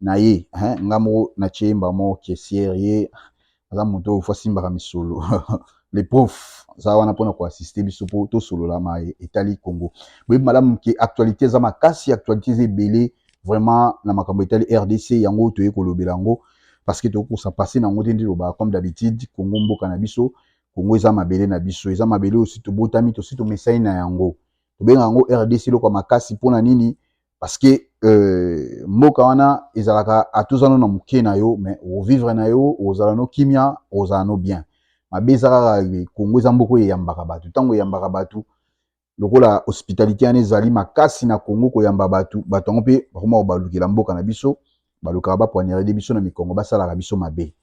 na ye hein nga moko na tie ye mbala moko caissière ye aza moto oyo faut asimbaka misolo le prof aza wana mpona ko assister biso mpo tosolola maye etali Congo boyebi malamu ke actualité eza makasi actualité eza ebele vraiment na makambo etali RDC yango toye kolobela yango parce que tokokosa passe na yango te nde tolobaka comme d'habitude Congo mboka na biso Congo eza mabele na biso eza mabele oyo si tobotami tosi tomesani na yango tobenga yango RDC eloko ya makasi mpo na nini parce que euh, mboka wana ezalaka atozano na moke na yo mais ovivre na yo ozala no kimia ozala no bien mabe eza kaka kongo eza mboka oyo eyambaka bato ntango eyambaka bato lokola hospitalité wana ezali makasi na kongo koyamba bato bato yango mpe bakoma kobalukela mboka na biso balukaka bapwanirede biso na mikongo basalaka biso mabe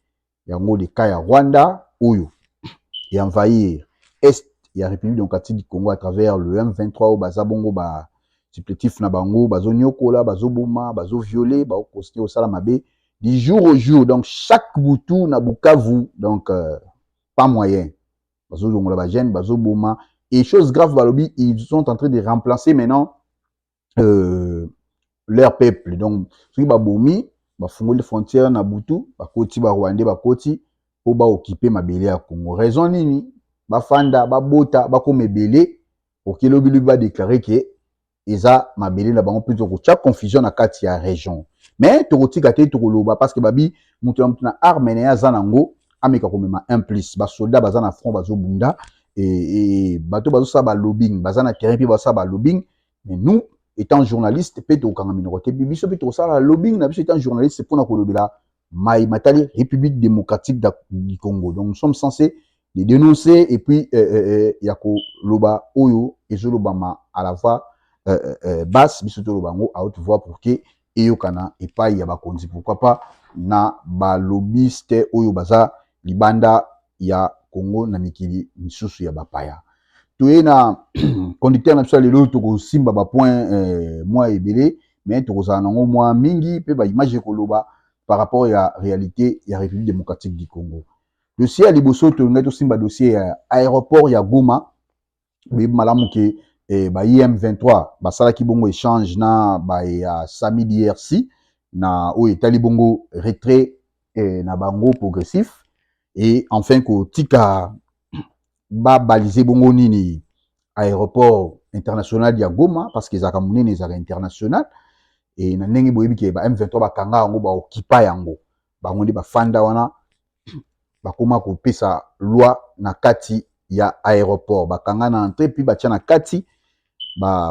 yango le cas ya Rwanda oyo e envahir est ya République démocratique du Congo à travers le M23 oyo baza bongo ba supplétifs na bango bazoniokola bazoboma bazoviole baokontinue kosala mabe du jour au jour donc chaque butu na Bukavu donc euh, pas moyen bazolongola bagene bazoboma et chose grave balobi ils sont en train de remplacer maintenant euh, leur peuple donc soki babomi bafungoli frontière na butu bakoti barwandais bakoti mpo baokipe mabele ya congo raison nini bafanda babota bakoma ebele okilobilobi badeklare ke eza mabele na bango mpe tokotya confusion na kati ya région mais tokotika te tokoloba parce que babi moto na moto na arme na ye aza nango ameka komema un plus basoldat baza na front bazobunda e, e, bato bazosala balobing baza na terrain mpe basala balobing mais nous étant journaliste mpe tokokanga minoko te biso mpe tokosala lobbying na biso étant journaliste mpona kolobela mai matali république démocratique du congo donc nous sommes censés de dénoncer et puis euh, euh, euh, ya koloba oyo ezolobama à la voix euh, euh, euh basse biso toloba yango à haute voix pour que eyokana epayi ya bakonzi pourquoi pas na ba lobbyiste oyo baza libanda ya Congo na mikili misusu ya ba paya. Toye na conducteur na biso ya lelo tokosimba ba point eh, mwa ebele mais tokozala nango mwa mingi pe ba image ekoloba par rapport ya realite ya République démocratique du Congo. Dossier ya liboso tolingaki tosimba dossier ya aéroport ya Goma boyebi malamu ke eh, ba IM23 basalaki bongo échange na ba ya Sami DRC na oyo etali bongo retrait eh, na bango progressif et enfin kotika babalise bongo nini aéroport international ya Goma parce que ezalaka monene ezalaka international et na ndenge boyebi ke ba M23 bakanga yango baokipa yango bango nde bafanda wana bakoma kopesa loi na kati ya aéroport bakanga na entrée puis batya na kati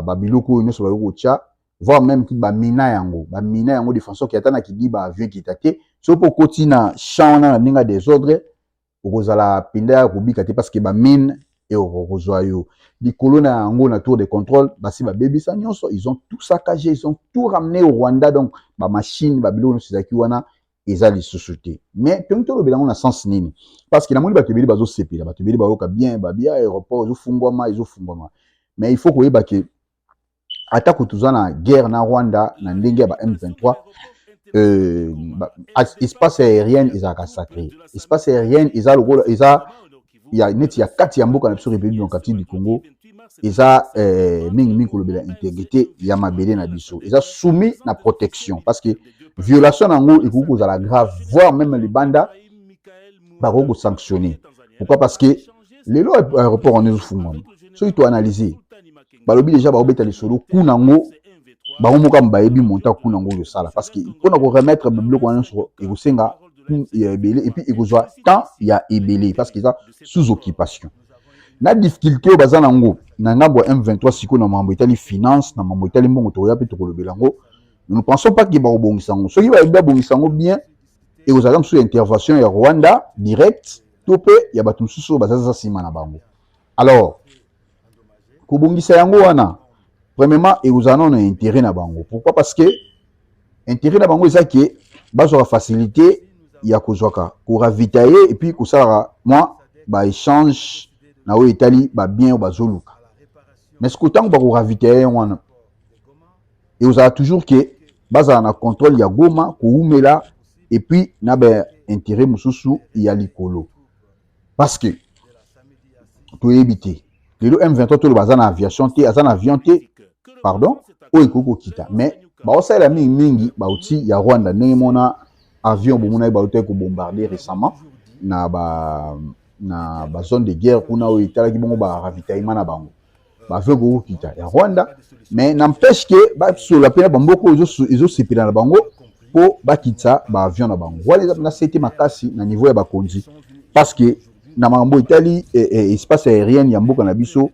babiloko oyo nyonso bayoki kotya voire même ki bamina yango bamina yango de façon ke ata na kidiba avion ekita te soki mpo okoti na champ wana na ndenge ya desordre okozala mpenza ya kobika te parce que bamine ekokozwa yo likolo na yango na tour de contrôle basi babebisa nyonso ils ont tout saccagé ils ont tout ramené au rwanda donc bamachine babiloko nyonso ezalaki wana eza lisusu te mais mpengi tolobela yango na sens nini parce que namoni bato ebele bazosepela bato ebele bayoka bien babia aéroport ezofungwama ezofungwama mais il faut koyeba ke atako toza na guerre na rwanda na ndenge ya ba m23 euh, ba, espace aérienne ezalaka sacré espace aérienne eza lokola eza ya neti ya kati ya mboka na biso république démocratique du congo eza euh, mingi mingi kolobela intégrité ya mabele na biso eza soumis na protection parce que violation na yango ekoki kozala grave voire même libanda bakoki kosanctionne pourquoi parce que lelo aéroport wana ezofungwama soki toanalyse balobi deja baobeta lisolo kuna yango bango moko ame bayebi monta kuna yango ozosala parce que mpona koremettre biloko wana nyonso ekosenga ya ebele epuis ekozwa temps ya ebele parce que eza sous occupation na difficulté oyo baza na yango na ngambo ya m23 sikoyo na mambo etali finance na mambo etali mbongo tokoya mpe tokolobela yango nous ne pensons pas ke bakobongisa yango soki bayebi babongisa yango bien ekozala mosusu ya intervention ya rwanda direct to mpe ya bato mosusu oyo bazaza nsima na bango. Alors, kobongisa yango wana, premièrement, ekozala nano na intérêt na bango. Pourquoi? Parce que intérêt na bango eza ke bazwaka facilité ya kozwaka koravitailler epuis kosalaka mwa baéchange na oyo etali babien oyo bazoluka mais sikoyo ntango bakoravitailler yango wana ekozala toujours ke bazala na controle ya Goma koumela et puis na ba intérêt mosusu ya likolo parce que toyebi te lelo M23 toloba aza na aviation te aza na avion te pardon oyo ekoki kokita mais baosalela mingi mingi bauti ya Rwanda ndenge mona avion bomonaki bautaki kobombarde récemment na ba na bazone de guerre kuna oyo etalaki bongo baravitaillement na bango bazo kokita ya rwanda mais n'empêche ke basolola mpe na bamboka oyo ezosepela na bango mpo bakitisa baavion na bango wana eza mpena sete makasi na niveau ya bakonzi parce que na makambo etali eh, eh, espace aérienne ya mboka na biso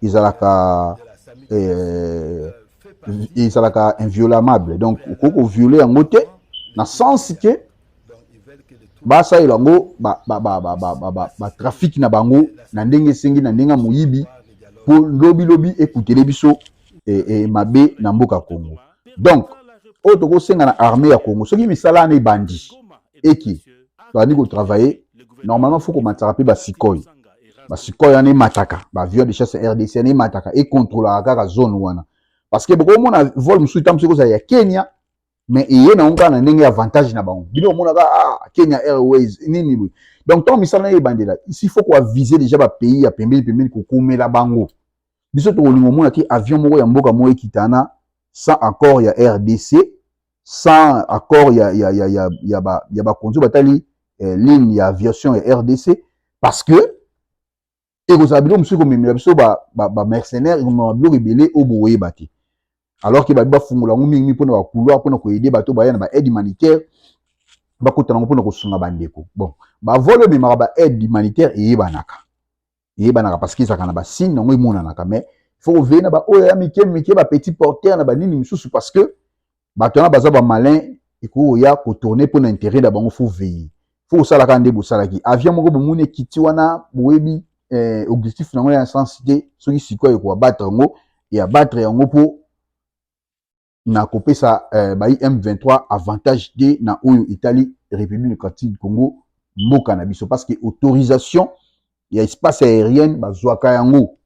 ezalaka eh, ezalaka inviolamable donc okoki koviole yango te na sens ke basalela yango batrafiki na bango na ndenge esengi na ndenge ya moyibi mpo lobilobi ekutele biso e, e, mabe na mboka congo donc oyo tokosenga na armée ya congo soki misala wana ebandi eke tobandi kotravaille normalement fo komatisaka mpe basikoi basikoi wana emataka baavion de chasse rdc wana emataka ekontrolaka kaka zone wana parce que bokomona vol mosusu ntango mosuku kozala ya kenya mais eye na kaka na ndenge ya avantage na bango bino omonaka ah, kenya airways nini boye donc ntango misala naye ebandela isi faut koavise déjà bapays ya pembeni pembeni kokumela bango biso tokolinga omona te avion moko ya mboka moko ekitana sans accord ya rdc sans accord ya, ya, ya, ya, ya, ba, ya bakonzi batali eh, ligne ya aviation ya rdc parce que ekozala biloko mosusu ekomemela biso bamercenaire ekomema biloko ebele oyo bokoyeba te alors ke babi bafungola yango mingi mpo na bacouloir mpo na koyede bato baya na baaide humanitaire bakota nango mpo na kosunga bandeko bon bavole oyo ememaka baaide humanitaire eyebanaka eyebanaka parce que ezalaka na basigne yango emonanaka mais fo koveye na baoyo ya mike mike bapetit porteur na banini mosusu parce que bato wana baza bamalin ekoki koya kotourne mpo na interet na bango fo veille fo kosala kaka nde bosalaki avion moko bomoni ekiti wana boyebi eh, objectif na yango ya sens te soki sikoyo ekoabatre yango e abatre yango mpo na kopesa eh, bai m23 avantage te na oyo etali république démocratique du congo mboka na biso parce que autorisation ya espace aérienne bazwaka yango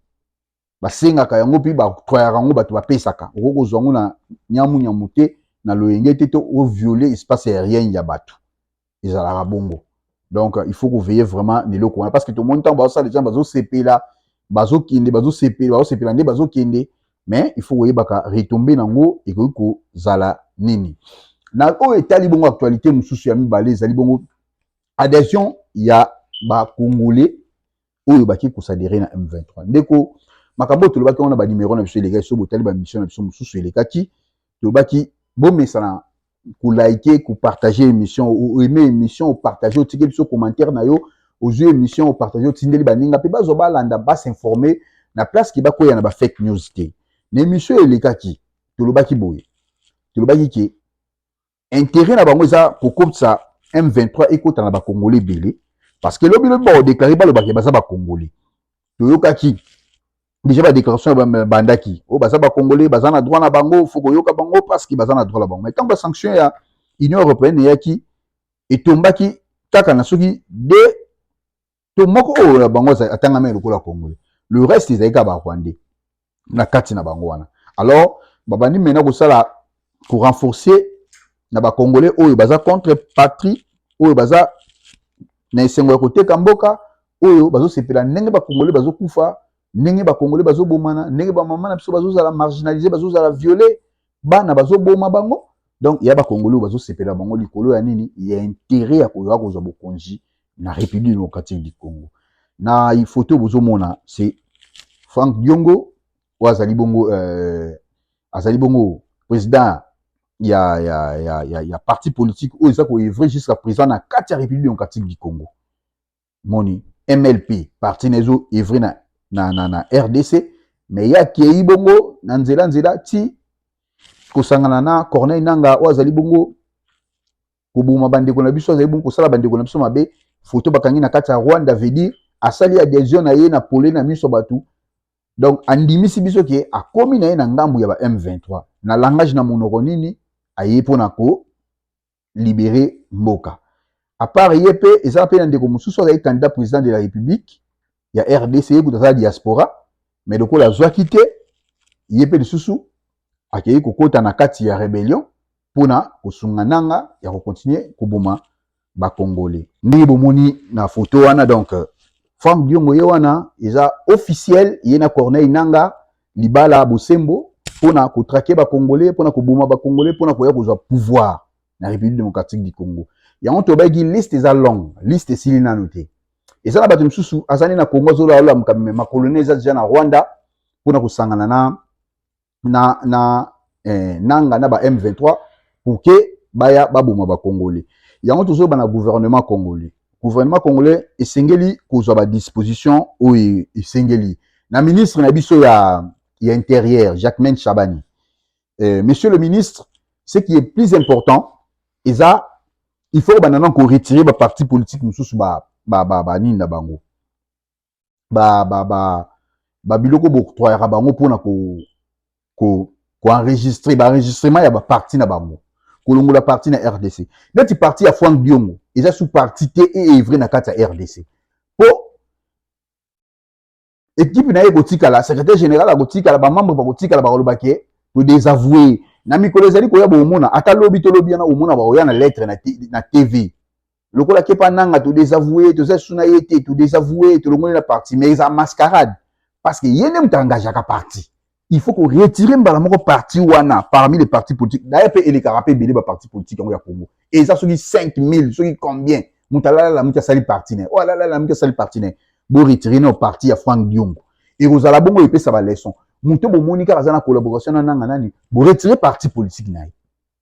basengaka yango mpe batoyaka yango bato bapesaka okoki kozwa yango na nyamu nyamu te na loyenge te to oviole espace aérienne ya bato ezalaka bongo donc il faut koveille vraiment na eloko wana parce que tomoni ntango bazosala ejambe bazosepela bazokende bazosepela bazosepela nde bazokende mais il faut koyebaka retombe nango ekoki kozala nini na oyo etali bongo actualité mosusu ya mibale ezali bongo adhesion ya bacongolais oyo baki kosadere na M23. Ndeko, makambo oyo tolobaki wana banimero na biso elekaki, soki botali bamisio na biso mosusu elekaki, tolobaki bomesana kolaike kopartage émission oaime émission opartage otiki biso commentaire na yo ozwi émission opartage otindeli baninga mpe bazwa balanda basinforme na place ke bakweya na bafake news te na émission elekaki tolobaki boye tolobaki ke intérêt na bango eza kokotisa M23 ekota na bakongole ebele parce que lobi lobi bakodeklare balobaki baza bakongole toyokaki déjà badéclaration bandaki oyo oh, baza bakongole baza na droit na bango fo koyoka bango parce que baza na droit na bango mais ntango basanction ya union européenne eyaki etombaki kaka na soki de to moko oyo na bango atangami lokola congolais le reste ezali kaka barwandais na kati na bango wana alors babandi mena kosala korenforcer na bacongolais oyo baza contre patrie oyo baza na esengo ya koteka mboka oyo bazosepela ndenge bacongolais bazokufa ndenge bacongolais bazobomana ndenge bamama na biso bazozala marginalise bazozala viole bana bazoboma bango donc ya bakongoli oyo bazosepela bango likolo ya nini ya intere ya koyoka kozwa bokonzi na république démocratique du congo na foto bozomona se frank diongo oyo azali bongo euh, azali bongo président ya, ya, ya, ya, ya parti politique oyo eza koevre jusqu'à présent na kati ya république démocratique du congo moni mlp parti na ezo evre na, na, na, na rdc me ye akei bongo na nzela nzela ti kosangana na corneille nanga oyo azali bongo koboma bandeko na biso azali bongo kosala bandeko na biso mabe foto bakangi na kati ya rwanda veut dire asali adhesion na ye na pole na miso bato donc andimisi biso ke akomi na ye na ngambu ya ba m23 na langage na monoko nini aye mpo na ko libere mboka apart ye mpe ezala mpe na ndeko mosusu azali candidat président de la république ya rdc ye kutu aza diaspora mais lokola azwaki te ye mpe lisusu akei kokota na kati ya rebellion mpona kosunga nanga ya kokontinue koboma bakongole ndenge bomoni na foto wana donc frank diongo ye wana eza officiel ye na corneille nanga libala bosembo pona ko traquer ba congolais pona ko boma ba congolais pona koya kozwa pouvoir na République démocratique du Congo yango tobaki liste eza longue liste esili nanu te eza na bato mosusu aza nde na Congo azolola lola makambo me makoloni eza deja na Rwanda pona kosangana na na na eh, nanga na ba M23 pour que baya baboma ba congolais yango tozoyeba na gouvernement congolais gouvernement congolais esengeli kozwa ba disposition oyo esengeli na ministre na biso ya, ya intérieur Jacquemain Chabani eh, monsieur le ministre ce qui est plus important eza il faut banda nano koretirer baparti politique mosusu banini ba, ba, ba, na bango ba ba ba ba biloko boctroyaka bango mpona ko ko koenregistre baenregistrement ya baparti na bango kolongola parti na rdc neti parti ya frank diongo eza sous parti te eevre na kati ya rdc mpo ekipe na ye ekotikala secrétaire général akotikala bamembre bakotikala bakoloba ke todesavoue na mikolo ezali koya bokomona ata lobi to lobi yana komona bakoya na lettre na tv lokola kepa nanga to desavouer toza lisusu na ye te to desavouer tolongoli na parti mais eza mascarade parce que ye nde moto engagaka parti il faut ko retirer mbala moko parti wana parmi les partis politiques d'ailleurs mpe elekaka mpe ebele baparti politique yango ya congo eza soki 5000 soki combien moto alalala moto asali parti na ye oyo oh, alalala moto asali parti na ye bo retire nao parti ya frank diongo ekozala bongo epesa baleson moto bomoni kaka aza na collaboration na nanga nani boretire parti politique na ye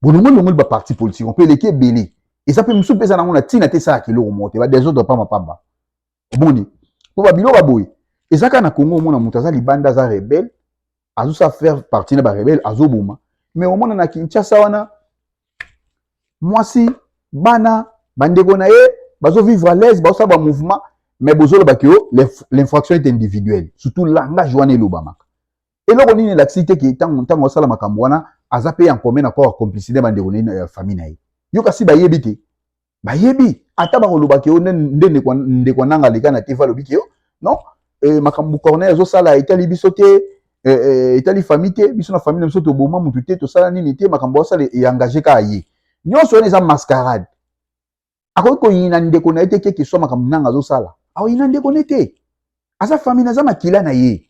bolongoli longoli ba parti politique mpe eleki ebele eza mpe mosusu mpe eza nango na ntina te esalaka eloko moko te badesordre pamba pamba omoni mpo babiloko ya boye eza kaka na congo omona moto aza libanda aza rebele azosa faire partie na barebele azoboma mais omona na kinshasa wana mwasi bana bandeko na ye bazovivre à l'aise bazosala bamouvement mais bozolobaki o l'infraction est individuelle surtout langage wana elobamaka eloko nini elakisi te ke ntango ntango asala makambo wana aza mpe en commun accord complicité bandeko na ya famille na ye yo kasi bayebi te bayebi ata bakoloba ke yo nde ndeko nanga aleka na tv alobi ke yo non eh, makambo corneille azosala etali biso te eh, eh, etali famille te biso na famille na biso toboma motu te tosala nini te makambo asala eengage kaka ye nyonso wana eza mascarade akoki koyina ndeko na ye te keke swa makambo nanga azosala akoyina ndeko ne te aza fami naza makila na ye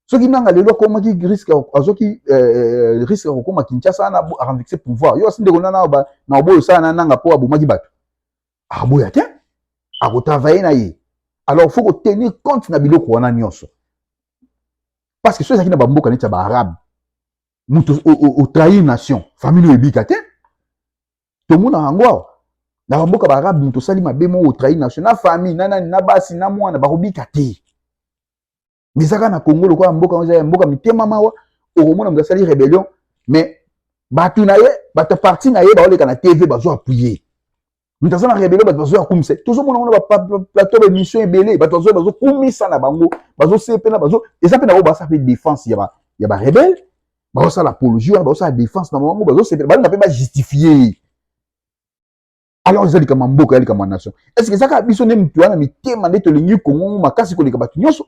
soki nanga lelo akomaki risque azoki eh, eh, risque ya kokoma kinshasa na aranvixe pouvoir yo asi ndeko nana na oboyo osala na nanga mpo abomaki bato aboya te akotravaille na ye alors faut kotenir compte na biloko wana nyonso parce que soki ezalaki na bamboka neti ya baarabe moto otrahir nation famille oyo ebika te tomonaka yango awa na bamboka baarabe moto osali mabe moko otrahi nation na famille na nani na basi na mwana bakobika te mais ezaka na congo lokola mboka yango ezali mboka mitema mawa okomona moto asali rebellion mais bato na ye bato ya parti na ye baoleka na tv bazo appuye moto aza na rebellion bato bazo ya kumisa tozomona ngo na baplateau baémission ebele bato bazo bazokumisa na bango bazosepela bazo eza mpe na oyo basa mpe défense ya barebele bazosala apologie wana bazosala defense na bango bazosepela balinga mpe bajustifie alors eza likambo ya mboka ya likambo ya nation est ce que ezaka biso nde moto wana mitema nde tolingi kongo makasi koleka bato nyonso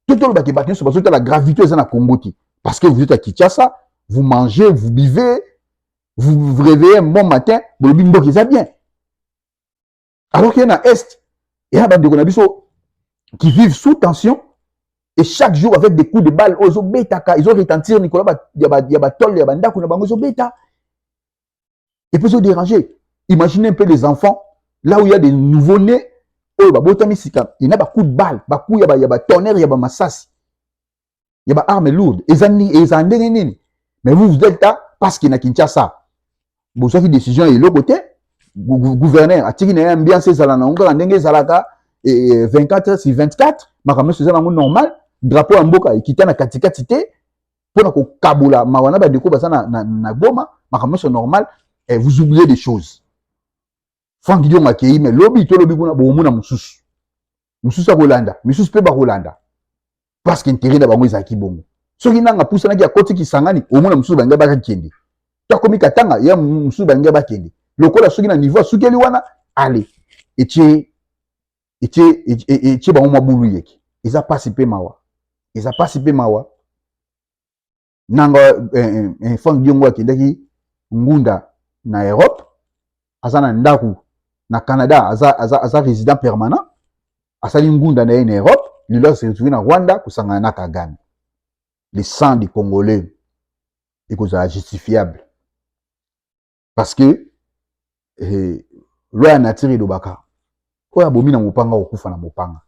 to tolobaki bato nyonso bazotala gravité eza na kongo te parce que vous êtes à kinshasa vous mangez vous buvez vous vous réveillez un bon matin bolobi mboka eza bien alors qu'il y a na est il y a bandeko na biso qui vivent sous tension et chaque jour avec des coups de balle oyo ezobetaka ezoretentir likolo ya batole ya bandako na bango ezobeta et puis ezoderange imaginez un peu les enfants là où il y a des nouveaux nés oyo babotami sika ena bacoup de balle bacoup ya batonnerre ya bamasasi ya ba arme lourde eza eza ndenge nini mais vous vous êtes là parce que na Kinshasa bozwaki décision ya eloko te gouverneur atiki na ye ambiance ezala nango kaka ndenge ezalaka 24 heures sur 24 makambo nyonso eza nango normal drapeau ya mboka ekita na katikati te mpo na kokabola mawa na bandeko baza na, na, na goma makambo nyonso normal eh, vous oubliez des choses Franck Diongo akei mais lobi to lobi kuna bokomona mosusu mosusu akolanda misusu mpe bakolanda parce que intérêt na bango ezalaki bongo soki nanga apusanaki akoti kisangani omona mosusu balinga bakakende to akomi katanga ya mosusu balinga bakende lokola soki na niveau asukeli wana ale etie etie etie bango mwa bulu yeke eza mpasi mpe mawa eza mpasi mpe mawa nanga eh, eh, eh, frank diongo akendaki ngunda na europe aza na ndako na canada aza, aza, aza résident permanent asali ngunda na ye na europe lelo aseretrouve na rwanda kosangana na kagame le sang du congolais ekozala justifiable parce que eh, loi ya nature elobaka oyo abomi na mopanga okokufa na mopanga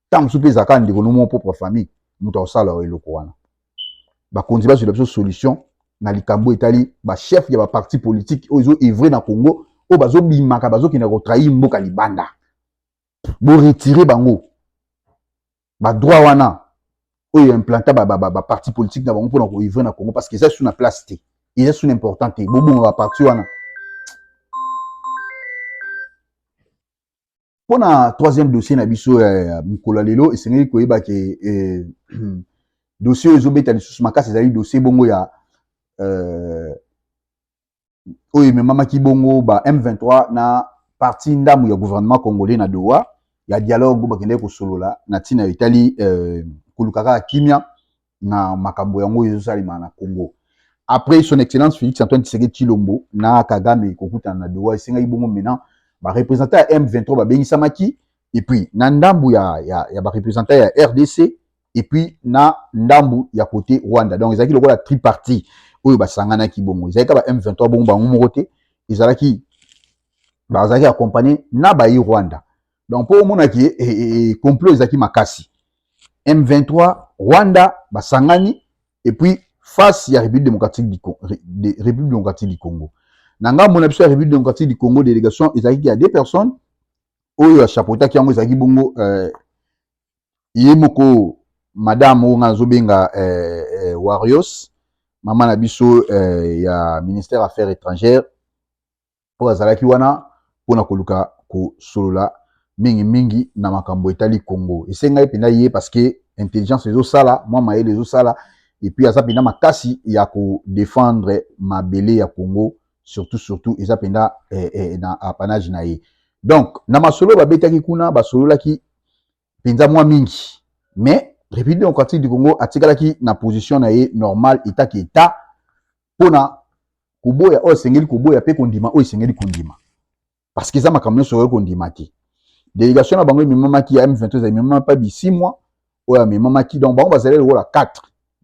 ntango mosusu mpe ezalaka ndeko no mwa propre famille moto akosala yo eloko wana bakonzi bazwela biso solution na likambo etali bachef ya baparti politike oyo ezo evre na congo oyo bazobimaka bazokenda kotrahir mboka libanda boretire bango ba droit wana oyo implanta ba, ba, ba, ba parti politique na bango mpona koivre na congo parce que eza su na place te eza su na important te bobonga ba parti wana mpo na troisième dossier na biso ya mokolo ya lelo esengeli koyeba ke eh, dossier oyo ezobeta lisusu makasi ezali dossier bongo ya euh, oyo ememamaki bongo ba M23 na parti ndambu ya gouvernement congolais na Doha ya dialogue bakendaki kosolola na ntina etali euh, koluka kaka kimia na makambo yango ezosalema na Congo. Après son excellence Félix Antoine Tshisekedi Tshilombo na Kagame kokutana na Doha, esengaki bongo maintenant ba représentants ya M23 babengisamaki et puis na ndambu ya, ya, ya ba représentants ya RDC et puis na ndambu ya kote Rwanda donc ezalaki lokola tripartie oyo basanganaki bongo ezalaki ba M23 bongo bango moko te ezalaki bazalaki accompagné na bayi Rwanda donc mpo omonaki eh, eh, eh, complot ezalaki makasi M23 Rwanda basangani et puis face ya République démocratique du Congo, République démocratique du Congo. Na ngambo na biso ya République démocratique du Congo délégation ezalaki ya deux personnes oyo ya chapeautaki yango ezalaki bongo euh, ye moko madame oyo ngai nazobenga eh, eh, Warriors mama na biso eh, ya ministère affaires étrangères oyo azalaki wana mpo na koluka kosolola mingimingi na makambo etali Congo. Esengai mpenza ye parce que intelligence ezosala mwa mayele ezosala epuis aza mpenza makasi ya kodefendre mabele ya Congo surtout surtout eza mpenza eh, eh, na apanage na ye donc na masolo babetaki kuna basololaki mpenza mwa mingi mais république démocratique du congo atikalaki na position na ye normal etaki eta mpo na koboya oyo esengeli koboya mpe kondima oyo esengeli kondima parce que eza makambo nyonso okoki kondima te délégation na bango ememamaki ya m23 ememama mpa bisimwa oyo amemamaki donc bango bazali lokola 4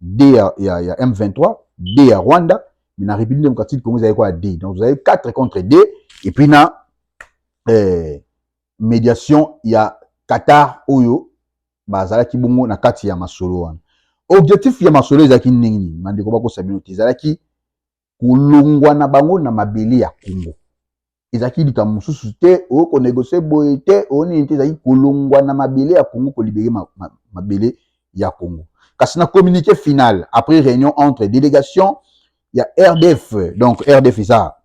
d ya, ya, ya m23 d ya rwanda mais na république démocratique congo ezali kwa d donc tozali 4 contre d et puis na eh, mediation ya Qatar oyo bazalaki bongo na kati ya masolo wana. Objectif ya masolo ezalaki ndenge nini? Bandeko bakosa bino te, ezalaki kolongwa na bango na mabele ya Congo. Ezalaki likambo mosusu te, oyo konegosie boye te, oyo nini te, ezalaki kolongwa na mabele ya Congo, kolibere ma, ma, mabele ya Congo. Kasi na communiqué final, après réunion entre délégation ya RDF, donc RDF eza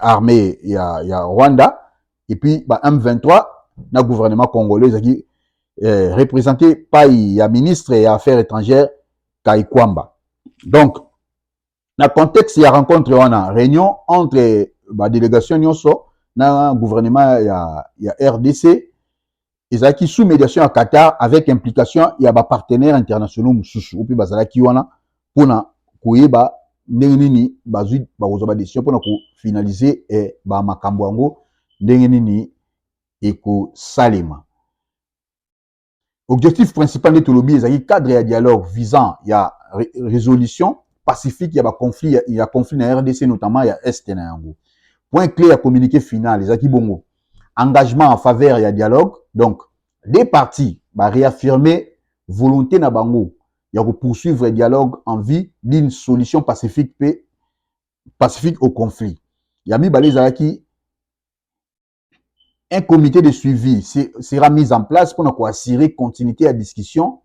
armée ya, ya Rwanda, et puis ba M23 na gouvernement congolais ezalaki eh, représenté pai ya ministre ya affaires étrangères Kaikwamba donc na contexte ya rencontre wana réunion entre ba délégation nyonso na gouvernement ya, ya rdc ezalaki sous médiation ya Qatar avec implication ya ba partenaires internationaux mosusu oyo mpe bazalaki wana mpo na koyeba ndenge nini bazwi bakozwa ba décision mpo na kofinalize eh, ba makambo yango ndenge nini ekosalema. Objectif principal nde tolobi ezalaki cadre ya dialogue visant ya résolution pacifique ya ba conflit ya conflit na RDC notamment ya est na yango. Point clé ya communiqué final ezalaki bongo engagement en faveur ya dialogue donc deux parties ba réaffirmer volonté na bango ya ko poursuivre dialogue en vue d'une solution pacifique pe pacifique au conflit ya mibale ezalaki un comité de suivi sera mis en place pour ko assurer continuité ya discussion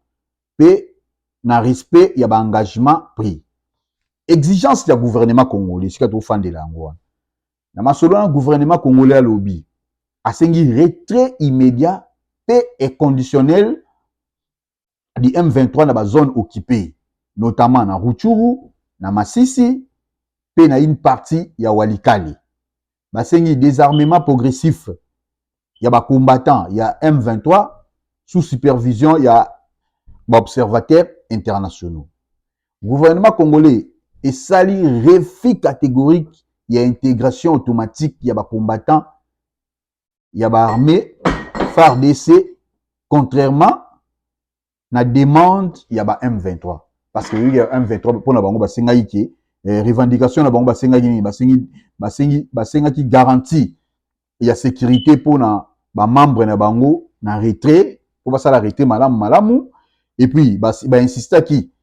pe na respect ya ba engagement pris exigence ya gouvernement congolais sika tofandela yango wana Na masolo na gouvernement congolais alobi asengi retrait immédiat pe inconditionnel du M23 na ba zone occupe notamment na Ruchuru, na Masisi pe na une partie ya Walikale. Basengi desarmement progressif ya ba combattants ya M23 sous supervision ya ba observateurs internationaux. Gouvernement congolais esali refus catégorique ya integration automatique ya ba combattants ya ba armée FARDC contrairement na demande ya ba M23 parce que ya M23 mpo na bango basengaki ke eh, revendication na bango basengaki nini basengi basengi basengaki garantie ya sécurité mpo na bamembre na bango na retrait mpo basala retrait malamu malamu et puis bainsistaki ba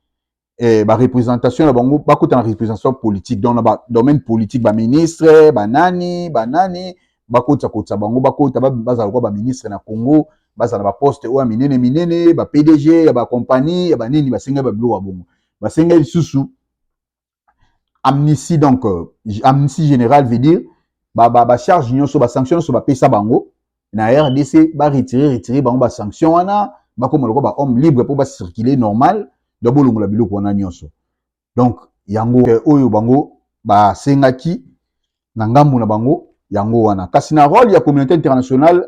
eh, ba représentation na bango bakota na représentation politique donc na ba domaine politique ba ministre ba nani ba nani bakotisa kotisa bango bakota bazala kwa ba ministre na Congo bazala ba poste oyo minene minene ba PDG ya ba compagnie ya ba nini basenga ba biloko ya bongo basenga lisusu amnistie donc euh, amnistie générale veut dire ba ba, ba charge nyonso ba sanction nyonso bapesa bango na rdc ba retire retire bango basanction wana bakoma lokola bahomme libre mpo bacircule normal donc bolongola biloko wana nyonso donc yango eh, oyo bango basengaki na ngambo na bango yango wana kasi na role ya communauté internationale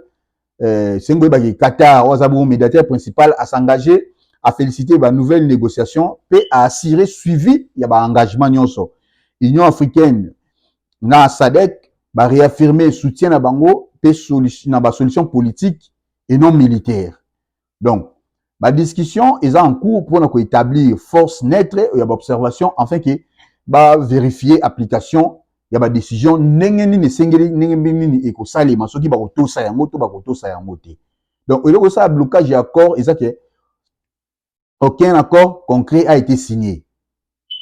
eh, sengo oyebaki qatar oyo aza bongo médiateur principal asengage afélicite banouvelle négociation mpe aassurer suivi ya baengagement nyonso union africaine na sadec ba réaffirmer soutien na bango mpe solution na ba solution politique et non militaire donc ba discussion eza en cours mpona koétablir force neutre ya ba observation afin ke ba vérifier application ya ba décision ndenge nini esengeli ndenge mpe nini ekosalema soki bakotosa yango to bakotosa yango te donc eloko esala blocage ya accord eza ke aucun accord concret a été signé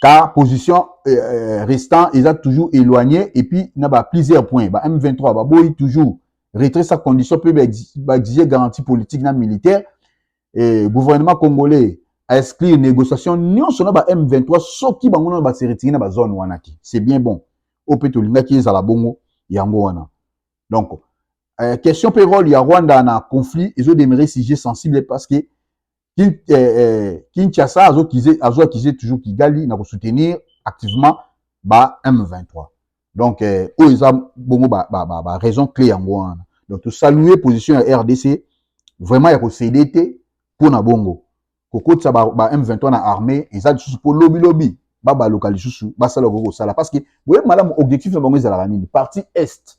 car position euh, euh restant eza toujours éloigné et puis na ba plusieurs points ba M23 ba boyi toujours retrait sa condition peut ba exiger garantie politique na militaire et gouvernement congolais a exclure négociation nyonso na ba M23 soki bango na ba se retirer na ba zone wana te c'est bien bon au peut olingaki ezala bongo yango wana donc euh, question payroll ya Rwanda na conflit ezo demeurer sujet sensible parce que Kin, eh, eh, Kinshasa azo kize azo accuser toujours Kigali na ko soutenir activement ba M23. Donc eh, oyo eza bongo ba, ba, ba, ba raison clé yango wana. Donc to saluer position ya RDC vraiment ya ko céder te mpo na bongo kokotisa ba, ba M23 na armée eza lisusu mpo lobi lobi babaluka lisusu basala okoki kosala parce que boyebi malamu objectif na bango ezalaka nini parti est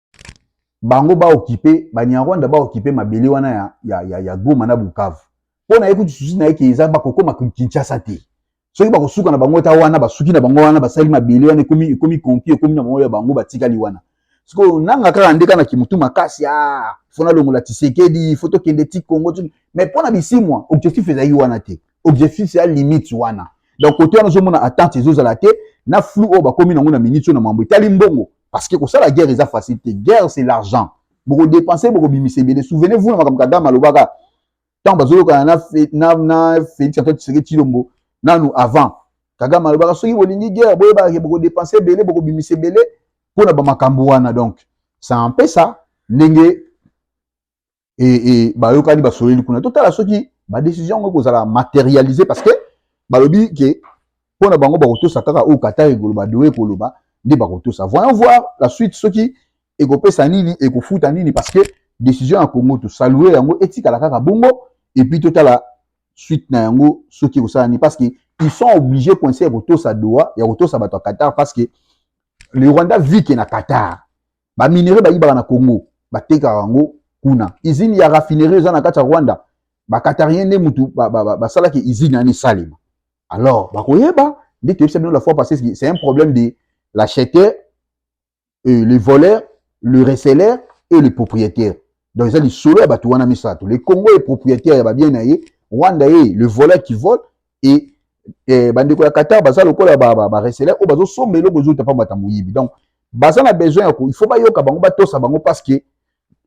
bango ba occupe banyarwanda ba occupe mabele wana ya, ya, ya, ya goma na bukavu mpo na ye kutu susi na ye ke eza bakokoma kinshasa te soki bakosuka na bango ta wana basuki na bango wana basali mabele wana ekomi ekomi konki ekomi na bango ya bango batikali wana sikoyo nanga kaka ndeka na kimutu makasi a ah, fona longola tisekedi fo tokende ti kongo mais mpo na bisimwa objectif ezalaki wana te objectif ya limite wana donc kote wana ozomona attente ezozala te na flou oyo bakomi nango na minute oyo na mambo etali mbongo parce que kosala guerre eza facile te guerre c'est l'argent bokodepense bokobimisa ebele souvenez vous na makambo kagame alobaka ntango bazoyokana na, fe, na, na félix antoine tshisekedi tshilombo nanu avant kagame alobaka soki bolingi guerre boyebaka ke bokodepense ebele bokobimisa ebele mpo na bamakambo wana donc ça empesa ndenge et, et bayokani basoleli kuna totala soki badécision yango ekozala matérialisé parce que balobi ke mpo na bango bakotosa kaka oyo qatar ekoloba doe ekoloba nde bakotosa voyons voir la suite soki ekopesa nini ekofuta nini parce que décision ya congo tosalue yango etikala kaka bongo et puis totala suite na yango soki ekosala nini parce que ils sont obligés coince ya kotosa doa ya kotosa bato ya qatar parce que le rwanda vit ke na qatar ba minerais bayibaka na Congo batekaka yango kuna usine ya raffinerie eza na kati ya Rwanda ba Qatarien nde mutu basalaki ba, ba usine yani esalema alors bakoyeba nde toyebisa bino la fois passée c'est un problème de l'acheteur euh, le voleur le receleur et le propriétaire donc eza lisolo ya bato wana misato le congo est propriétaire ya babien na ye rwanda ye le voleur qui vole et eh, bandeko ya qatar baza lokola bareseleur oyo bazosomba eloko ezouta mpambata moyibi donc baza na besoin ya ko il faut bayoka bango batosa bango parce que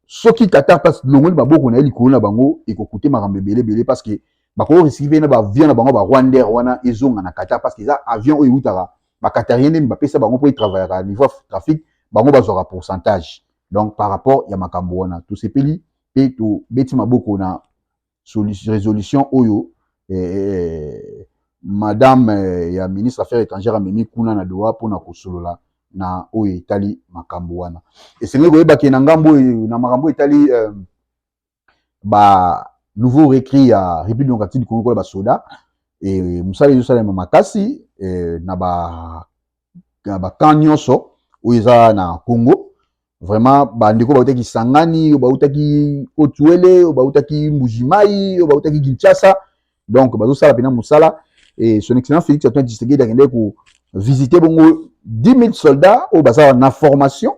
soki qatar mpasi longoli maboko na ye likolo na bango ekokute makambo ebele ebele parce que bakoki risiki mpe na baavion na bango barwandere wana ezonga na qatar parce que eza avion oyo eutaka bakatarien nde bapesa bango mpo etravaillaka niveau ya trafic bango bazwaka pourcentage donc par rapport ya makambo wana tosepeli mpe tobeti maboko na résolution oyo eh, eh, eh, madame eh, ya ministre affaires étrangères amemi kuna na doha mpona kosolola na oyo etali makambo wana esengeli koyeba ke na ngambo oyo na makambo etali eh, ba nouveau recrues ya République démocratique du Congo kola basoda e, mosala ezosalema makasi e, na ba na bakan nyonso oyo eza na Congo vraiment bandeko bautaki Kisangani oyo bautaki Otuele oyo bautaki Mbujimai oyo bautaki Kinshasa donc bazosala mpena mosala e, son excellence Félix Antoine Tshisekedi akendaki ko visiter bongo 10 000 soldats oyo baza na formation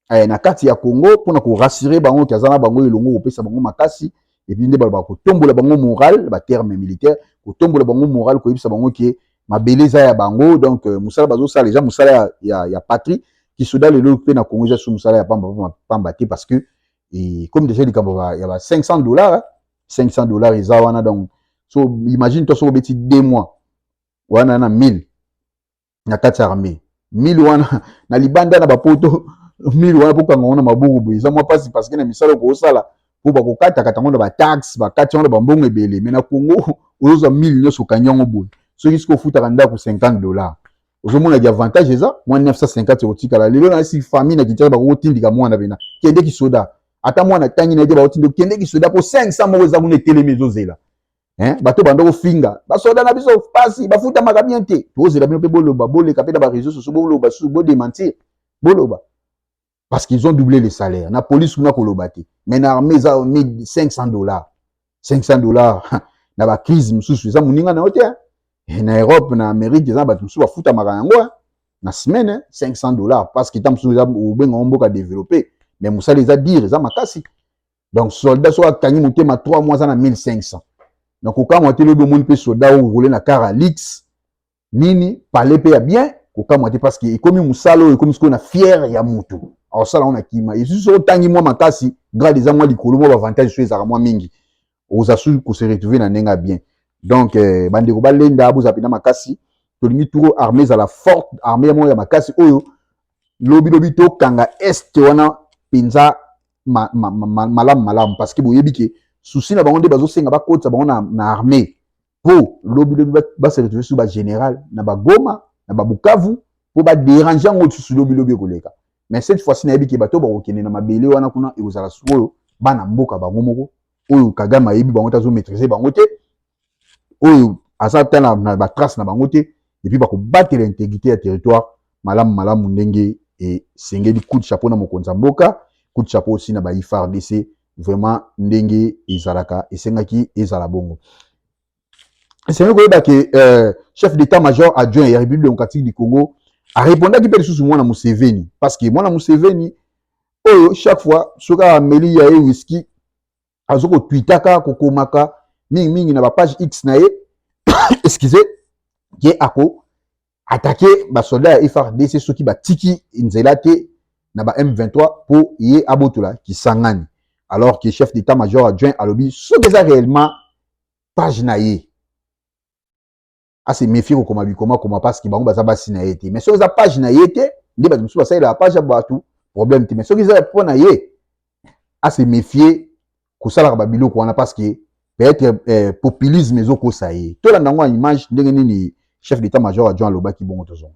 eh, na kati ya Congo mpo na korasire bango ke aza na bango elongo kopesa bango makasi epuis nde baloba kotombola bango moral baterme militaire kotombola bango moral koyebisa bango ke mabele eza ya bango donc euh, mosala bazosala eza mosala ya, ya, ya patrie kisoda lelo mpe na Congo eza su mosala ya pamba pamba, pamba te parce que et comme déjà likambo ya ba 500 dollars 500 dollars eza wana donc so imagine toi soki obeti 2 mois wana na 1000 na kati ya armée mili wana na libanda na bapoto mili wana bokanga ngo na maboko boye eza mwa mpasi parce que na misala okosala mpo bakokatakata yango na bataxe bakati yango na bambongo ebele me na congo ozozwa mili nyonso okangi yango boye soki soki ofutaka ndako 50 dollar ozomona ki avantage eza mwa 950 ekotikala lelo nasi famille na kinshasa bakokotindika mwana pena kende kisoda ata mwana tangi na ye te bakotinda kende kisoda mpo 500 moko eza kuna etelemi ezozela hein bato banda kofinga basoda na biso pasi bafutamaka bien te tozela bino mpe boloba boleka mpe na bareseau soso boloba susu bodementir boloba parce qu'ils ont doublé les salaires na police kuna koloba te mais na armée eza 1500 dollars 500 dollars na bacrise mosusu eza moninga na yo te eh, na europe na amérique eza na bato mosusu bafutamaka yango eh. na semaine 500 dollars parce que ntango mosusu eza obenga ngo mboka développé mais mosala eza dire eza makasi donc soldat soki akangi motema 3 mois aza na 1500 donc kokamwa te lobi omoni mpe soldat oyo role na car ya lix nini pale mpe ya bien kokamwa te parce que ekomi mosala oyo ekomi sikoyo na fiere ya motu akosala yango na kima esusu soki otangi mwa makasi grade eza mwa likolo mwa bavantage soki ezalaka mwa mingi oza su kose retrouve na ndenge ya bien donc eh, bandeko balenda bozala mpenza makasi tolingi turo armée ezala forte armée ya moko ya makasi oyo lobilobi tokanga este wana mpenza ma, ma, ma, ma, malamu malamu parce que boyebi ke souci na bango nde bazosenga bakotisa bango na, na armée mpo lobi lobi base retrouve sur bagénéral na bagoma na babukavu mpo baderange yango lisusu lobi lobi ekoleka mais cette fois ci nayebi ke bato bakokende na mabele wana kuna ekozala sikoyo bana mboka bango moko oyo kagame ayebi bango te azomaîtrise bango te oyo aza ata na, na batrace na bango te epuis bakobatela integrité ya territoire malamu malamu ndenge esengeli coup de chapeau na mokonzi ya mboka coup de chapeau aussi na ba ifrdc vraiment ndenge ezalaka esengaki ezala bongo esengeli koyeba ke euh, chef d'état major adjoint ya république démocratique du congo arepondaki mpe lisusu mwana museveni parce que mwana museveni oyo chaque fois soki ameli ya ye whisky azo ko tweetaka ko komaka mingi mingi na ba page X na ye excusez ye ako attaquer ba soldats ya FRDC soki batiki nzela te na ba M23 po ye abotola Kisangani alors que chef d'état major adjoint alobi soki eza réellement page na ye ase méfier kokoma bikoma koma parce que bango baza basi na ye te mais soki eza page na ye te nde bato mosusu basalelaka page ya bato problème te mais soki eza mpo na ye ase méfier kosalaka babiloko wana parce que peut-être eh, populisme ezokosa ye tolanda yango ya image ndenge nini chef d'état major ya john alobaki bongo tozonga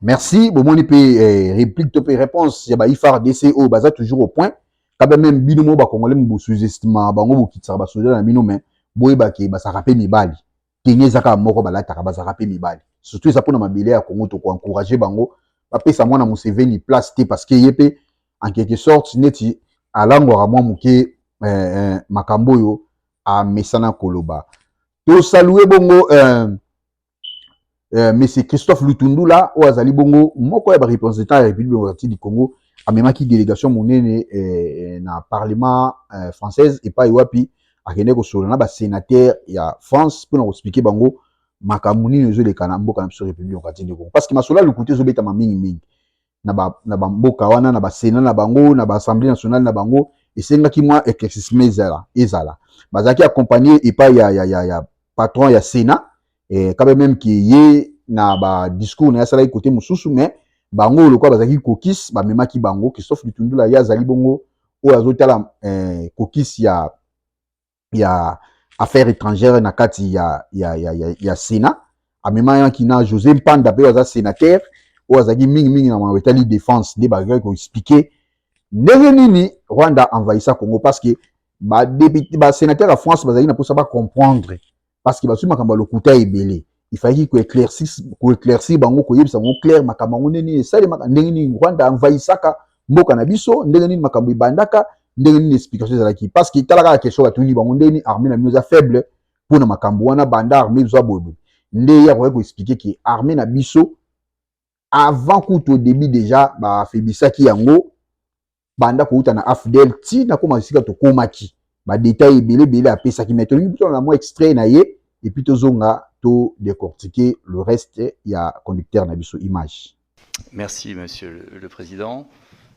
Merci, bomoni pe eh, réplique to pe réponse ya ba IFRDC oyo baza toujours au point. Kaba même bino mo ba congolais mo sous-estima bango bokitsaka ba soda na bino mais boyeba ke basaka pe mibali. Tenue ezaka moko balataka bazaka pe mibali. Surtout eza pona mabele ya Congo to ko encourager bango bapesa mwana Museveni place te parce que ye pe en quelque sorte neti alangwaka mwa moke eh, eh, makambo oyo amesana koloba. Tosalue bongo eh, euh, monsieur Christophe Lutundula oyo azali bongo moko ya ba représentants ya République démocratique du Congo amemaki délégation monene euh, na parlement euh, française epai wapi akende kosolola na ba sénateur ya France mpo na koexplike bango makambo nini ezoleka na mboka na biso République démocratique du Congo parce que masolo ya lokuta ezobetama mingi mingi na ba na ba mboka wana na ba sena na bango na ba assemblée nationale na bango esengaki mwa éclaircissement ezala ezala bazalaki accompagner epai ya, ya, ya, ya patron ya sena eh, kabe meme ke ye na ba discours na ye asalaki kote mosusu mais bango lokola bazalaki kokis bamemaki bango christophe lutundula ye azali bongo oyo azotala eh, kokis ya ya affaire étrangère na kati ya, ya, ya, ya, ya Sénat amemaki na José Mpanda mpe aza sénateur oyo azalaki mingi mingi na makambo etali défense nde bazali koexplike ndenge nini Rwanda envahissa Congo parce que ba, ba sénateur ya France bazali na mposa bacomprendre parce que bazwi makambo ya lokuta ebele il fallait ko éclaircir ko éclaircir bango koyebisa bango clair makambo yango ndenge nini esalemaka ndenge nini rwanda envahissaka mboka na biso ndenge nini makambo ebandaka ndenge nini explication ezalaki parce que tala kaka question batuni bango ndenge nini armée na bino eza faible mpo na makambo wana banda armée ezwa boyeboye nde ye akoki koexplike ke armée na biso avant kutu au début déjà bafebisaki yango banda kouta na afdel ti nakoma esika tokomaki badetail ebele ebele apesaki mai tolingi totala na mwa extrait na ye epuis tozonga to décortiquer le reste ya conducteur na biso image merci monsieur le, le président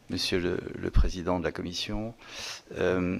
monsieur le, le président de la commission euh...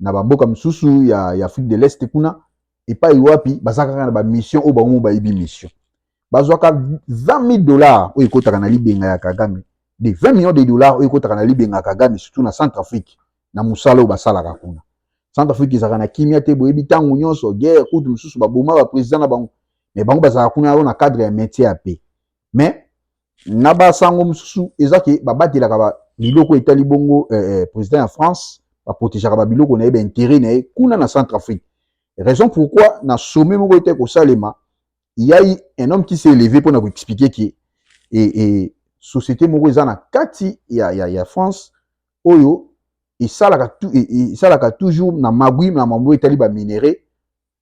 na bamboka mosusu ya, ya afrique de l'est kuna epai wapi baza kaka na bamission oyo bango bayebi mission bazwaka 20 dollars oyo ekotaka na libenga ya kagame de 20 millions de dollars oyo ekotaka na libenga ya kagame surtout na centre afrique na mosala oyo basalaka kuna centre afrique ezalaka na kimia te boyebi ntango nyonso guerre kutu mosusu baboma baprésident na bango mais bango bazalaka kuna yango na cadre ya métier ya pe mais na ba sango mususu eza ke ba batelaka ba biloko etali bongo eh, eh, president ya France ba protegeaka ba biloko na ye ba intérêt na ye kuna na Centrafrique raison pourquoi na sommet moko ete kosalema il y a eu un homme qui s'est élevé pona ko expliquer que et, et société moko eza na kati ya, ya, ya France oyo esalaka tu, e, e, esalaka toujours na magui na mambo etali ba minerais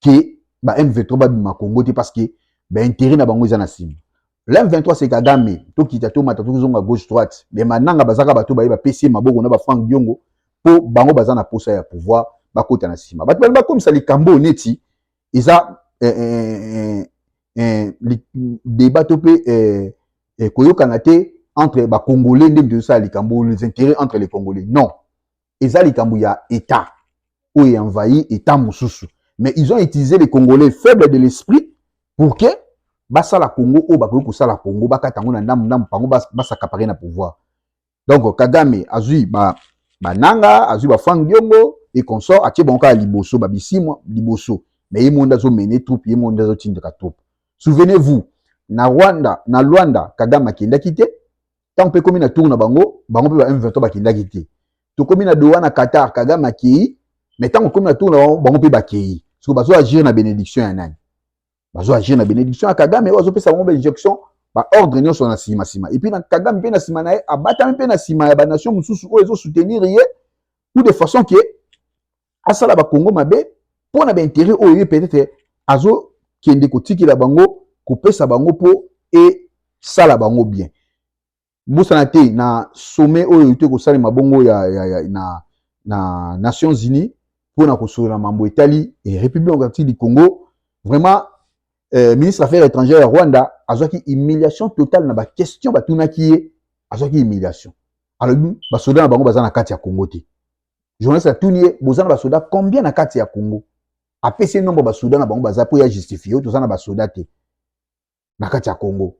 ke ba M23 babima Congo te parce que ba intérêt na bango eza na nsima la M23 c'est Kagame tokita tomata tozonga gauche droite mais mananga bazaka bato baye bapesi ye maboko na ba Frank Diongo mpo bango baza na posa ya pouvoir bakota na nsima bato bali bakomisa likambo oyo neti eza eh, eh, eh, débat to mpe eh, eh, koyokana te entre bacongolais nde tozosala likambo les intérêts entre les congolais non eza likambo ya etat oyo envahi etat mosusu mais ils ont utilisé les congolais faible de l'esprit pour que basala congo oyo bakoki kosala congo bakata yango na ndambu ndambu bango basakapare na pouvoir donc kagame azwi ba bananga azwi ba frank diongo et consort atie bango kaka liboso babisimwa liboso mais ye monde azomene troupe ye monde azotindika troupe souvenez vous na rwanda na luanda kagame akendaki te ntango mpe ekomi na tour na bango bango mpe ba m23 bakendaki te tokomi na doha na qatar kagame akei mais ntango ekomi na tour na bango bango mpe bakei soko bazo agir na benediction ya nani bazo agir na benediction ya kagame oyo azopesa bango bainjection baordre nyonso na nsima nsima epuis na kagame mpe na nsima na ye abatami mpe na nsima ya banation mosusu oyo ezosoutenir ye ou de façon ke asala bakongo mabe mpo na baintere oyo ye peut-être azokende kotikela bango kopesa bango mpo esala bango bien bosana te na sommet oyo euti kosalema bongo ya, ya, ya, na, na nations unies mpo na kosolola mambo etali eh, république démocratique du congo vraiment eh, ministre affaires étrangères ya rwanda azwaki humiliation totale na baquestion batunaki ye azwaki humiliation alobi basoda na bango baza na kati ya congo te journaliste atuni ye boza na basoda combien na kati ya congo apesi ye nombre basoda na bango baza mpo ya justifie toza na basoda te na kati ya congo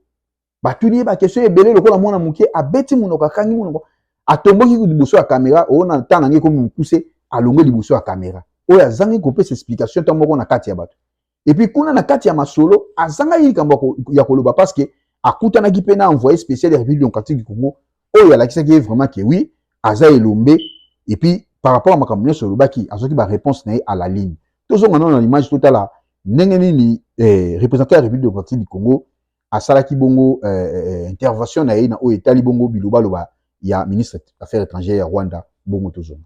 batuni ye bakestion ebele lokola mwana moke abeti monoko akangi monoko atomboki liboso ya kamera oyo na ntan nange ekomi mokuse alongwe liboso ya kamera oyo azangi kopesa explication ntango moko na kati ya bato epuis kuna na kati ya masolo azangaki likambo ya koloba parce que akutanaki mpe na envoyé spécial ya république démocratique du congo oyo alakisaki ye vraiment ke oui aza elombe epuis par rapport ya makambo nyonso olobaki azwaki baréponse na ye à la ligne tozonga nano na image totala ndenge nini eh, représentant ya république démocratique du congo asalaki bongo eh, eh, eh, intervention na ye na oyo etali bongo bilobaloba ya ministre affaires étrangères ya rwanda bongo tozonga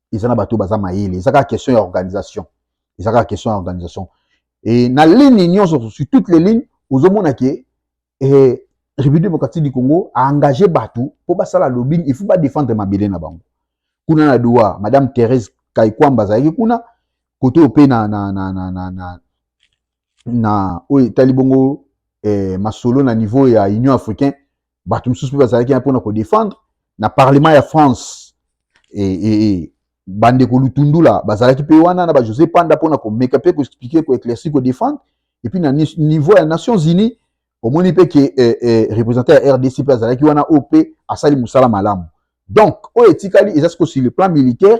eza na bato baza mayele eza kaka question ya organisation eza kaka question ya organisation e na ligne nyonso sur toutes les lignes ozomona ke eh, république démocratique du congo aengage bato mpo basala lobbying il faut badefendre mabele na bango kuna na doa madame thérèse kaikwamba azalaki kuna kote oyo mpe na, na, na, na, na, na, na oyo etali bongo eh, masolo na niveau ya union africain bato mosusu mpe bazalaki ya mpona kodefendre na parlement ya france e, e, e, bandeko lutundula bazalaki mpe wana na bajose panda mpona komeka mpe koexplike koeclairci kodefendre epuis na niveau ya nations unies omoni mpe ke eh, eh, représentant ya rdc mpe azalaki wana oyo mpe asali mosala malamu donc oyo etikali eza sikoyo sur le plan militaire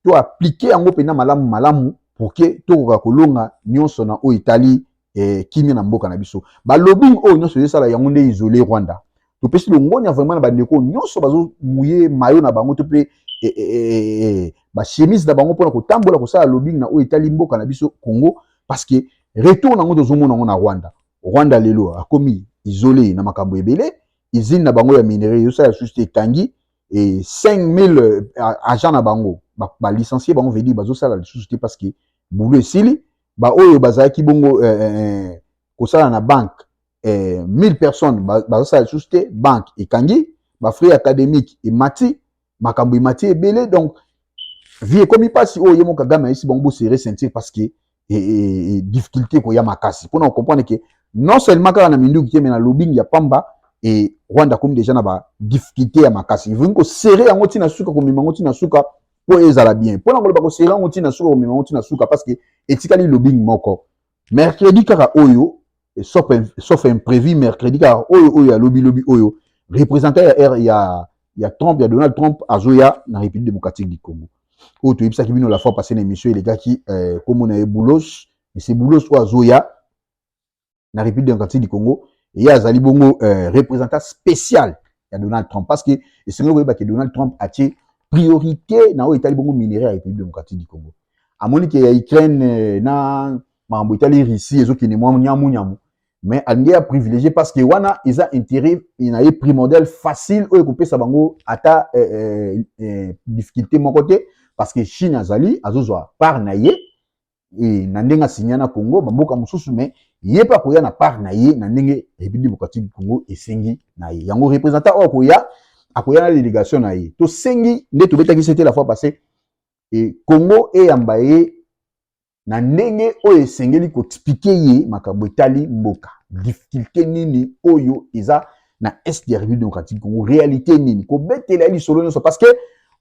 to aplike yango mpenza malamu malamu pour que tokoka kolonga nyonso na oyo etali eh, kimia na mboka na biso balobing oyo nyonso ezosala yango nde isole rwanda topesi longonya vraiment na bandeko nyonso bazomuye mayo na bango to mpe eh, eh, eh, eh, bachemise na bango mpona kotambola kosala lobing na oyo etali mboka na biso congo parce que retour na yango tozomona yango na rwanda rwanda lelo akomi isole na makambo ebele izine na bango ya minere ezosala lisusu te ekangi et 5000 euh, agents na bango ba, ba licencier bango veut dire bazo sala lisusu te parce que boulot esili ba oyo bazalaki bongo euh, euh, euh kosala na banque euh, 1000 personnes bazo sala lisusu te banque ekangi ba frais académique emati makambo emati ebele donc vie ekomi mpasi oyo ye mo kagame ayesi bango bosere ceinture parce que e, e, e, e difficulté ekoya makasi mpo na kocomprendre ke non seulement kaka na minduki te me na lobing ya pamba e rwanda akomi deja na ba difficulté ya makasi evoki kosere yango ntina suka komema yango ntina suka mpo ezala bien mpo na koloba kosere yango ntina suka komema yango ntina suka parce que etikali lobing moko mercredi kaka oyo Et sauf, sauf imprévu mercredi car oyo oyo ya lobi lobi oyo représentant ya R ya ya Trump ya Donald Trump azoya na République démocratique du Congo oyo toyebisaki bino la fois passée na émission elekaki eh, kombo na ye Boulos monsieur Boulos oyo azoya na République démocratique du Congo eye azali bongo eh, représentant spécial ya Donald Trump parce que esengeli koyeba ke Donald Trump atie priorité na oyo etali bongo minerai ya République démocratique du Congo amoni ke ya Ukraine eh, na makambo etali Russie ezokende mwa nyamu nyamu mais alingi ya privilégié parce que wana eza intérêt na ye primordial facile oyo ekopesa bango ata eh, eh, eh, difficulté moko te parce que Chine azali azozwa part na ye e, na ndenge asinya na Congo bamboka mosusu mais ye mpe akoya na part na ye na ndenge République démocratique du Congo esengi na ye yango représentant oyo akoya akoya na délégation na ye tosengi nde tobetaki sete la fois passé e, Congo eyamba ye na ndenge oyo esengeli koexplike ye makambo etali mboka difficulté nini oyo eza na est ya république démocratique congo réalité nini kobetela ye lisolo nyonso parce que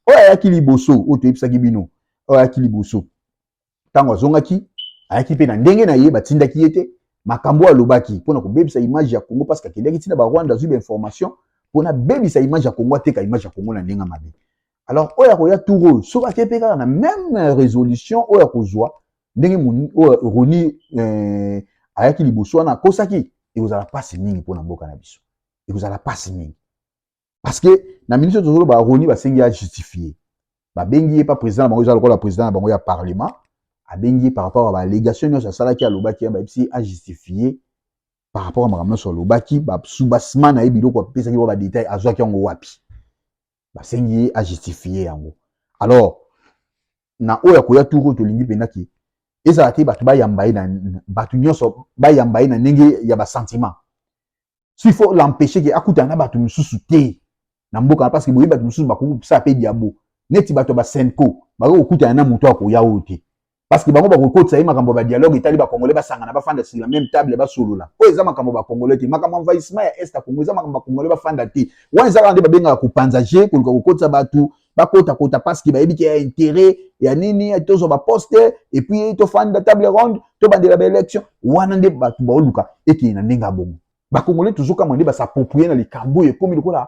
oyo ayaki liboso oyo toyebisaki bino oyo ayaki liboso ntango azongaki ayaki mpe na ndenge na ye batindaki ye te makambo oyo alobaki mpo na kobebisa image ya congo parce que akendaki ntina barwanda azwi bainformation mpo na bebisa image ya congo ateka image ya congo na ndenge mabe alors oyo akoya tour oyo soki ake mpe kaka na meme resolution oyo akozwa ndenge oyo roni eh, ayaki liboso wana akosaki ekozala mpasi mingi mpo na mboka na biso ekozala mpasi mingi parce que na minute tozoloba roni basengi ya justifie babengi ye mpa président na bango eza lokola président na bango ya parlement abengi ye par rapport a baalégation nyonso asalaki alobaki ya bayebisi ye ajustifie par rapport a makambo nyonso alobaki basubasima na ye biloko apesaki wa badetail azwaki yango wapi basengi ye ajustifie yango alors na oyo akoya tour oyo tolingi mpenza ke ezala te bato bayamba ye na bato nyonso bayamba ye na ndenge ya basentiment so il faut l'empêche ke akutana na bato mosusu te na mboka parce que boyebi bato mosusu bakoki kosala mpe diabo neti bato ya basenco bakoki kokutana na moto akoya oyo te parce que bango bakokotisa ye makambo ya badialogue etali bakongole basangana bafanda sila meme table basolola oyo eza makambo bakongole te makambo envahissement ya est ya kongo eza makambo bakongole bafanda te wana eza kaka nde babengaka kopanza je koluka kokotisa bato bakotakota parce que bayebi ke ya interet ya nini tozwa baposte epuis tofanda table ronde tobandela baélection wana nde bato baoluka ekei na ndenge ya bongo bakongole tozokamwa nde basaproprie na likambo oyo ekomi lokola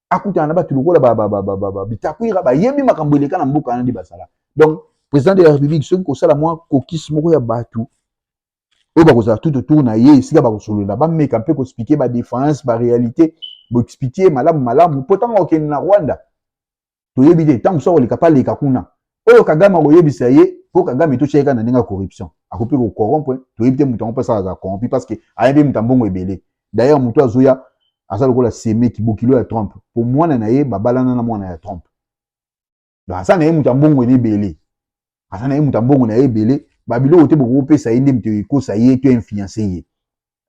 akutana na bato lokola bitakwira bayebi makambo eleka na mboka wana nde bazala donc président de la république soki kosala mwa kokisi moko ya bato oyo bakozala tout autour na ye esika bakosolola bameka mpe koexplike badéfense baréalité boexplike malamu malamu mpo ntango akokende na rwanda toyebi te ntango mosusu akoleka mpe aleka kuna oyo kagame akoyebisa ye po kagame totia ye kaka na ndenge ya corruption akoki mpe kokorompre toyebi te moto yango mpe asala azala corrompi parce que aya mpe moto ya mbongo ebele d'ailleurs moto azoya aza lokola semeki bokilo ya trump mpo mwana na ye babalana na mwana ya trump donc aza na ye moto ya mbongo na ebele aza na ye moto ya mbongo na ye ebele babiloko te bokopesa ye nde moto ekosa ye to influence ye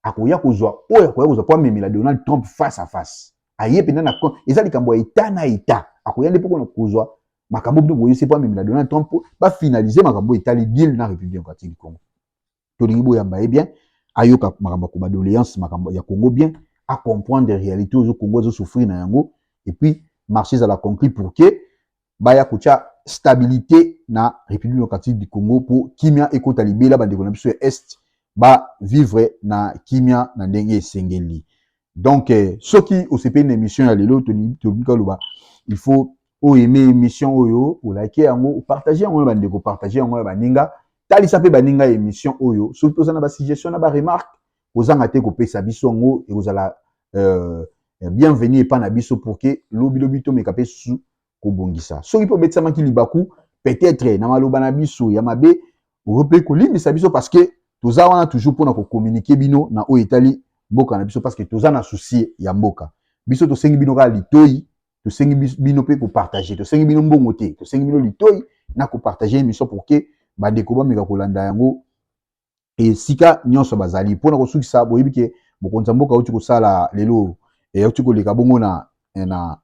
akoya kozwa oyo akoya kozwa mpo amemela donald trump face à face aye mpenza na eza likambo ya eta na eta akoya nde mpo kozwa makambo bino boyesi mpo amemela donald trump mpo bafinalize makambo etali deal na république démocratique du congo tolingi boyamba ye bien ayoka makambo ya kobadoleance makambo ya congo bien acomprendre réalité oyo congo azosouffrir na yango epuis marché ezala conclu pour que baya kotya stabilite na République démocratique du Congo mpo kimia ekota libela bandeko na biso ya Est ba vivre na kimia na ndenge esengeli. Donc eh, soki osepeli na émission ya lelo tobika loba il faut o aimer émission oyo, olike yango, partager yango na bandeko, partager yango na baninga, talisa mpe baninga émission oyo. Soki toza na ba suggestion na ba remarque, kozanga te kopesa biso yango ekozala euh, bienvenu epai na biso pour que lobilobi tomeka mpe susu kobongisa soki mpe obetisamaki libaku peut-être na maloba na biso ya mabe oyo mpe kolimbisa biso parce que toza wana toujours mpona kokominike bino na oyo etali mboka na biso parce que toza na souci ya mboka biso tosengi bino kaka litoi tosengi bino mpe kopartage tosengi bino mbongo te tosengi bino litoi na kopartage émission pour que bandeko bameka kolanda yango esika nyonso bazali mpo na kosukisa boyebi ke mokonzi ya mboka auti kosala lelo eh, auti koleka bongo na, eh, na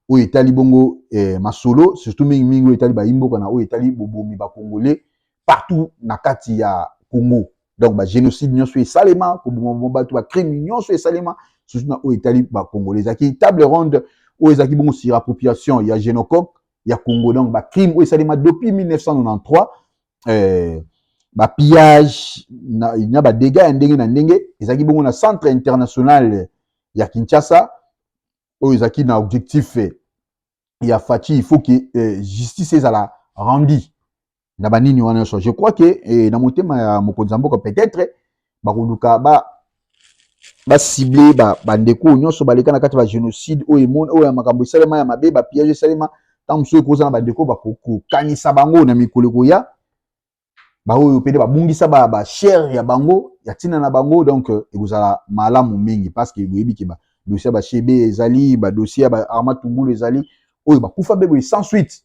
oyo etali bongo eh, masolo surtout mingi mingi oyo etali bayimboka na oyo etali bobomi bakongole partout na kati ya congo donc bagénocide nyonso esalema kobomaboma bato bacrime nyonso esalema surtout na oyo etali bakongole ezalaki table ronde oyo ezalaki bongo sur appropriation ya génocoque ya congo donc bacrime oyo esalema depuis 1993 euh, ba pillage na, na ba dégâts ya ndenge na ndenge ezalaki bongo na centre international ya Kinshasa oyo ezalaki na objectif ya Fatshi il faut que euh, justice ezala rendue na banini wana nyonso je crois que eh, na motema ya mokonzi ya mboka peut-être bakoluka ba basible bandeko oyo nyonso baleka na kati ya bagénocide oyo emoni oyo ya makambo esalema ya mabe bapillage esalema ntango mosusu ekozala na bandeko bakokanisa bango na mikolo ekoya baoyo mpe babungisa bashere ya bango ya ntina na bango donc euh, ekozala malamu mingi parce que boyebi ke badosie ya bashebe ezali badosie ya baarma tungulu ezali oyo bakufa mpe boye sans suite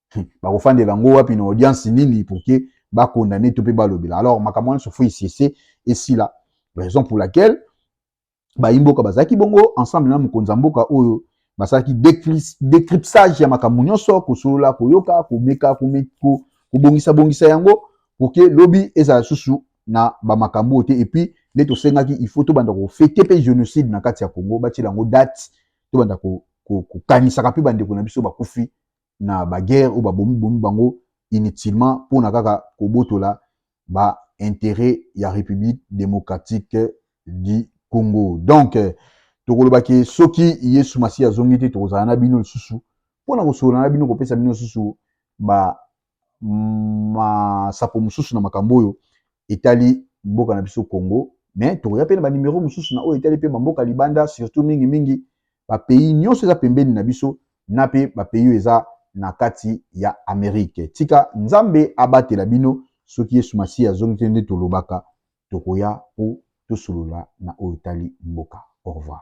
bakofandela yango wapi na audience nini pour que bakondane to mpe balobela alors makambo wana sofo esese esila raison pour laquelle bayimboka bazalaki bongo ensemble na mokonzi ya mboka oyo basalaki decrypsage ya makambo nyonso kosolola koyoka komeka kobongisa bongisa yango pour que lobi ezala lisusu na bamakambo oyo te epuis nde tosengaki il faut tobanda kofete mpe génocide na kati ya congo batyela yango date tobanda kokanisaka mpe bandeko na biso bakufi na ba guerre ou ba bomi bomi bango inutilement pona kaka kobotola ba interet ya Republique democratique du Congo. Donc tokoloba ke soki Yesu Masiya azongi te tokozala na bino lisusu pona kosolola na bino kopesa bino lisusu ba masapo mosusu na makambo oyo etali mboka na biso Congo mais tokoya mpe na banimero mosusu na oyo etali mpe bamboka libanda surtout mingimingi ba pays nionso eza pembeni na biso na pe ba pays oyo eza na kati ya Amerique. Tika Nzambe abatela bino soki Yesu Masiya azongi te nde tolobaka tokoya po tosolola na oyo etali mboka. Au revoir.